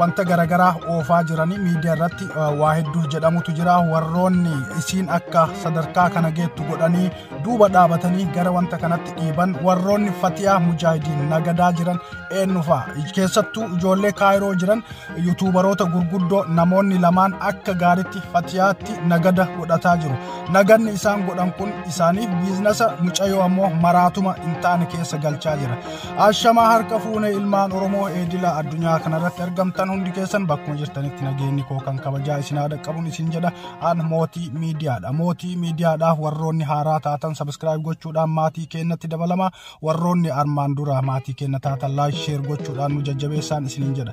wanta garagaraa oofaa jiranii miidiyaa irratti waa hedduu jedhamutu jira warroonni isiin akka sadarkaa kana geettu godhanii duuba dhaabatanii gara wanta kanatti dhiiban warroonni fatiyaa mujaahidiin nagadaa jiran eenyufaa keessattuu ijoollee kaayiroo jiran yuutuubaroota gurguddoo namoonni lamaan akka gaaritti fatiyaatti nagada godhataa jiru naganni isaan godhan kun isaaniif biiznasa mucayoo ammoo maraatuma hin taane keessa galchaa jira Ashamaa harka fuune ilmaan Oromoo eedila addunyaa kanarratti argamtan hundi keessan bakkuma jirtanitti nageenyi koo kan kabajaa isin haa dhaqqabuun isin jedha an mootii miidiyaadha. Mootii miidiyaadhaaf warroonni haaraa taatan sabiskiraayib gochuudhaan maatii keenyatti dabalama warroonni armaan dura maatii keenya taatan laayik sheer gochuudhaan nu jajjabeessaan isiniin jedha.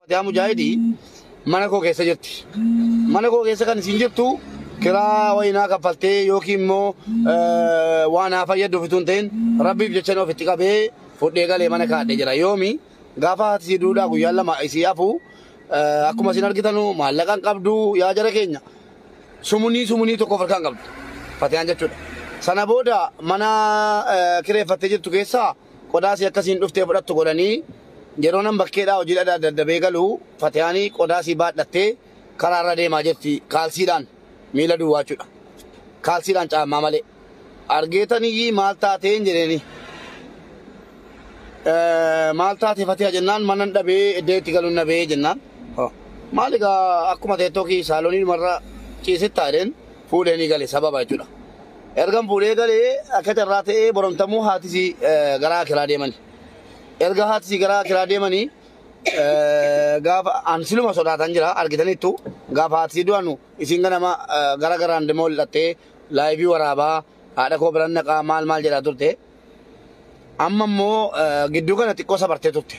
Fatiyaa Mujaahidi mana koo keessa jirti. Mana koo keessa kan isin jirtu kiraa wayinaa kaffaltee yookiin immoo waan haa fayyaddu ofituu hin ta'in rabbiif jecha inni ofitti qabee fudhee galee mana kaadhee jira. Yoomi gaafa haati isii duudhaa guyyaan lama isii hafu akkuma isin argitanu maallaqa hin qabdu yaa jara keenya sumunii sumunii tokko of harkaa hin qabdu. Fatiyaan jechuudha. Sana booda mana kireeffattee jirtu keessaa qodaa sii akka siin dhuftee fudhattu godhanii yeroonan bakkeedhaa hojiidha daddabee galu fatihaanii qodaa sii baadhattee karaa irra deemaa jirti kaalsiidhaan miila duwwaachudha kaalsiidhaan caammaa malee argeetan iyyii maal taateen jedheenii maal taate fatiha jennaan manan dhabee iddee itti galuun nabee jennaan maal egaa akkuma teettoo kii saaloonii dhumarra ciisittaa jedheen fuudheenii gale sababa jechuudha Ergan fuudhee gale akka carraa ta'ee borontamuu haati isii garaa akiraa deemani. Erga haati isii garaa akiraa deemani gaafa an siluma sodaataan jira argitaniittu gaafa haati isii du'anu isiin ganama gara garaan demoo ol'attee laayivii waraabaa haadha koo biran naqaa maal maal jedhaa turte. Amma immoo gidduu kana xiqqoo sabartee turte.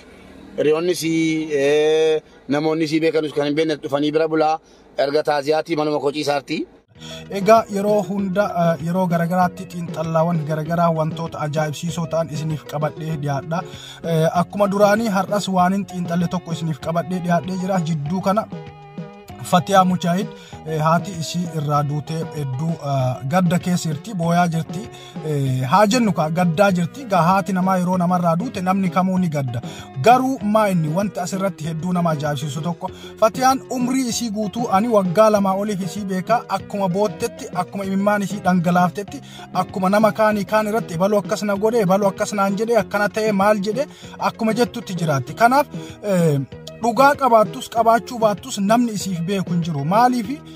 Hiriyoonni isii namoonni isii beekanus kan hin beekne dhufanii bira bulaa erga taaziyaatii manuma koo ciisaartii. Egaa yeroo hunda yeroo garagaraatti xiinxallaawwan garagaraa wantoota ajaa'ibsiisoo ta'an isiniif qabadhee dhiyaadha. Akkuma duraanii har'as waanin xiinxalle tokko isiniif qabadhee dhiyaadhee jira jidduu kana Fatiyaa Mujaahid haati ishii irraa duutee hedduu gadda keessa jirti booyaa jirti. haa jennu kaa gaddaa jirti gaa haati namaa yeroo namarraa duute namni kamuu ni gadda garuu maa inni wanti asirratti hedduu nama ajaa'ibsiisu tokko fatiyaan umrii isii guutuu ani waggaa lamaa oliif isii beekaa akkuma boottetti akkuma imimmaan isii dhangalaaftetti akkuma nama kaanii kaan irratti ebaluu akkas na godhe ebaluu akkas naan jedhe akkana ta'e maal jedhe akkuma jettutti jiraatti kanaaf dhugaa qabaattus qabaachuu baattus namni isiif beeku hin jiru maaliif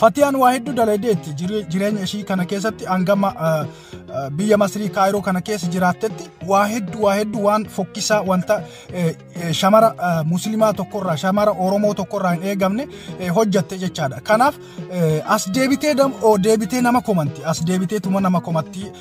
Fatiyaan waa hedduu daladeetti jireenya ishii kana keessatti hangama biyya Masrii Kaayiroo kana keessa jiraattetti waa hedduu waa hedduu waan fokkisaa wanta shamara muslimaa tokkorraa shamara Oromoo tokkorraa hin eegamne hojjatte jechaadha. Kanaaf as deebitee deebitee nama komanti as deebitee tuma nama komatti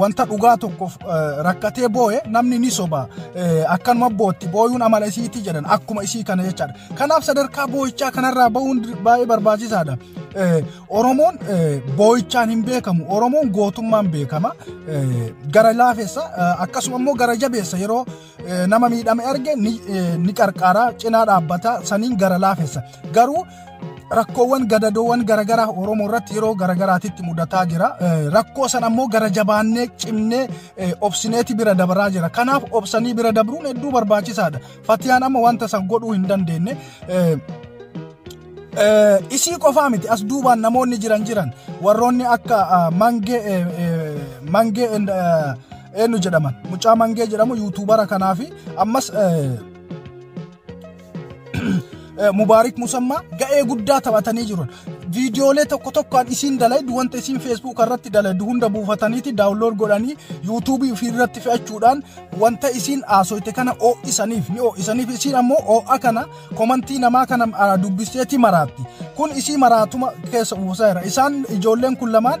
wanta dhugaa tokkoof rakkatee boo'e namni ni soba akkanuma bootti booyuun amala isiitii jedhan akkuma isii kana jechaadha. Kanaaf sadarkaa boo'ichaa kanarraa ba'uun baay'ee barbaachisaadha. Oromoon boo'ichaan hin beekamu Oromoon gootummaan beekama gara laafessa akkasuma immoo gara jabeessa yeroo nama miidhame arge ni qarqaara cinaa dhaabbata saniin gara laafessa garuu rakkoowwan gadadoowwan garagaraa oromoo irratti yeroo garagaraatitti mudataa jira rakkoo san ammoo gara jabaannee cimnee obsineeti bira dabraa jira kanaaf obsanii bira dabruun hedduu barbaachisaadha fatiyaan amma wanta san godhuu hin dandeenye isii qofaa miti as duubaan namoonni jiran jiran warroonni akka mangee mangee eenyu jedhaman mucaa mangee jedhamu yuutuubara kanaa fi ammas mubaarik musammaa ga'ee guddaa taphatanii jiru. Viidiyoolee tokko tokkoon isiin dalaydu wanta isiin feesbuuk irratti dalaydu hunda buufataniiti daawunlood godhanii yuutuubii ofii irratti fe'achuudhaan wanta isiin haasoyte kana oo'isaniif ni oo'isaniif isiin ammoo oo'a kana komantii namaa kana dubbisteeti maraatti. Kun isii maraatuma keessa buusaa jira. Isaan ijoolleen kun lamaan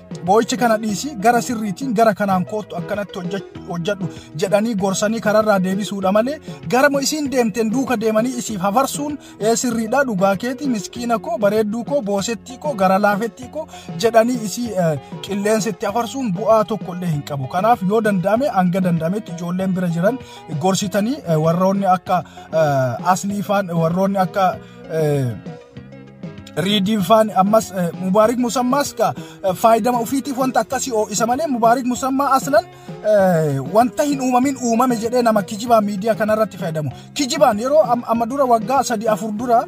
Boo'icha kana dhiisii gara sirriitiin gara kanaan koottu akkanatti hojjedhu jedhanii gorsanii kararraa deebisuudha malee garama isiin deemteen duuka deemanii isiif hafarsuun ee sirriidha dhugaa keetii miskiina koo bareedduu koo boosettii koo gara laafettii koo jedhanii isii qilleensitti hafarsuun bu'aa tokko illee hin qabu. Kanaaf yoo danda'ame hanga danda'ametti ijoolleen bira jiran gorsitanii warroonni akka asliifaan warroonni akka Riidiin faan ammas Mubaarik Musammaas ka faayidama ofiitiif wanta akkasii oo'isa malee Mubaarik Musammaa aslan wanta hin uumamin uumame jedhee nama kijibaa miidiyaa kanarratti fayyadamu. Kijibaan yeroo amma dura waggaa sadii afur dura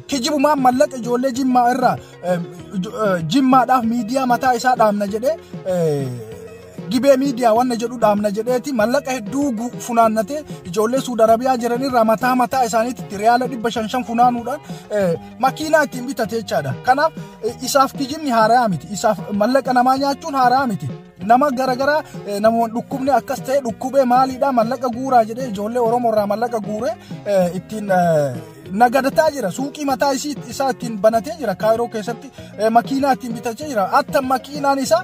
kijibumaan mallaqa ijoollee jimmaa irraa jimmaadhaaf miidiyaa mataa isaa dhaabna jedhee Gibee miidiyaa wanna jedhu dhaabna jedheeti mallaqa hedduu gu- funaannatee ijoollee Suud Arabiyaa jiran irraa mataa mataa isaaniitti riyaala dhibba shan shan funaanuudhaan eh, makiinaa ittiin bitate jechaadha. Kanaaf eh, isaaf kijibni haaraa miti. Isaaf mallaqa namaa nyaachuun haaraa miti. Nama garaagaraa eh, namoonni dhukkubni akkas ta'e dhukkubee maaliidhaa mallaqa guuraa jedhee ijoollee Oromoo irraa mallaqa guuree eh, ittiin eh, nagadataa jira suuqii mataa isii isaa ittiin banatee jira kaayiroo keessatti eh, makiinaa ittiin bitachaa jira atta makiinaan isaa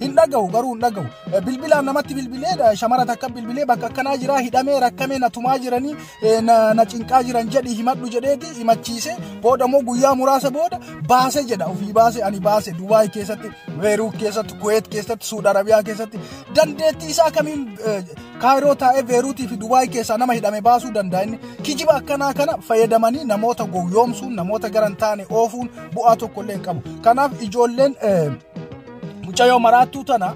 hin dhaga'u garuu hin dhaga'u bilbilaan namatti bilbilee shamara takka bilbilee bakka akkanaa jiraa hidhamee rakkamee na tumaa jiranii na cinqaa jiran jedhi himadhu jedheeti himachiise booda immoo guyyaa muraasa booda baase jedha ofii baase ani baase dubaay keessatti beeruut keessatti kuweet keessatti suud arabiyaa keessatti dandeettii isaa kamiin kaayiroo taa'ee beeruutii fi dubaay keessaa nama hidhame baasuu danda'a inni kijiba akkanaa kana fayyadamanii namoota gowwoomsuun namoota garan taane oofuun bu'aa tokkollee hin qabu kanaaf ijoolleen Mucayyoo maraattuu tana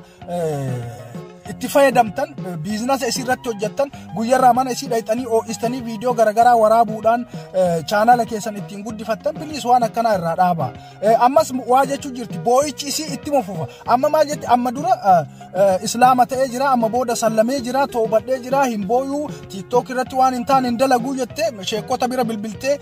itti fayyadamtan biizinasa isii irratti hojjettan guyyarraa mana isii dhayxanii oo'istanii viidiyoo garaagaraa waraabuudhaan chaanala keessan ittiin guddifattan biliis waan akkanaa irraa dhaaba. Ammas waa jechuu jirti boo'ichi isii itti mufufa. Amma maal jetti amma dura islaama ta'ee jira amma booda sallamee jira toobadhee jira hin booyuu tiiktook irratti waan hin taane hin dalaguu jettee sheekota bira bilbiltee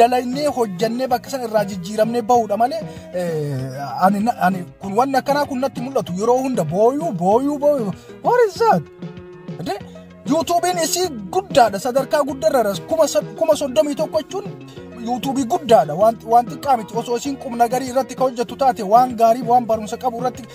dalaynee hojjannee bakka sana irraa jijjiiramnee bahuudha malee ani ani kun wanni akkanaa kun natti mul'atu yeroo hunda booyuu booyuu booyuu what is that de yuutuubiin isii guddaadha sadarkaa guddarra kuma kuma soddomii tokko jechuun yuutuubii guddaadha waan xiqqaa miti osoo isiin qubna garii irratti ka hojjettu taate waan gaarii waan barumsa qabu irratti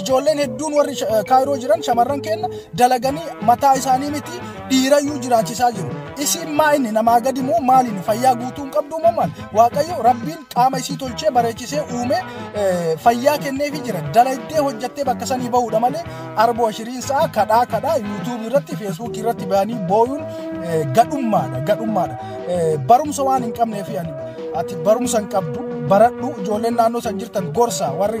Ijoolleen hedduun warri kaayiroo jiran shamarran keenya dalaganii mataa isaanii miti dhiirayyuu jiraachisaa jiru. Isiin maa inni namaa gadi moo maaliin fayyaa guutuu hin qabdu moo maal? Waaqayyo rabbiin qaama isii tolchee bareechisee uumee fayyaa kenneefi jira. Dalagdee hojjattee bakka sanii bahuudha malee arboo ashiriin sa'a kadhaa kadhaa yuutuubii irratti feesbuukii irratti bahanii booyuun gadhummaadha gadhummaadha. Barumsa waan hin qabneefi ati barumsa hin qabdu baradhu ijoolleen naannoo san jirtan gorsa warri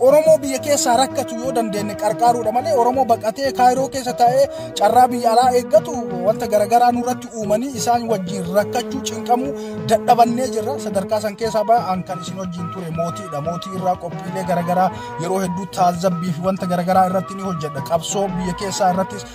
Oromoo biyya keessaa rakkatu yoo dandeenye qarqaaruudha malee Oromoo baqatee kaayiroo keessa taa'ee carraa biyya alaa eeggatu wanta garaagaraa nurratti uumanii isaan wajjin rakkachuu cinqamuu dadhabannee jirra sadarkaa san keessaa ba'an kan isin wajjin ture mootiidha mootii irraa qophiilee garaagaraa yeroo hedduu taazabbii fi wanta garaagaraa irratti ni hojjedha qabsoo biyya keessaa irrattis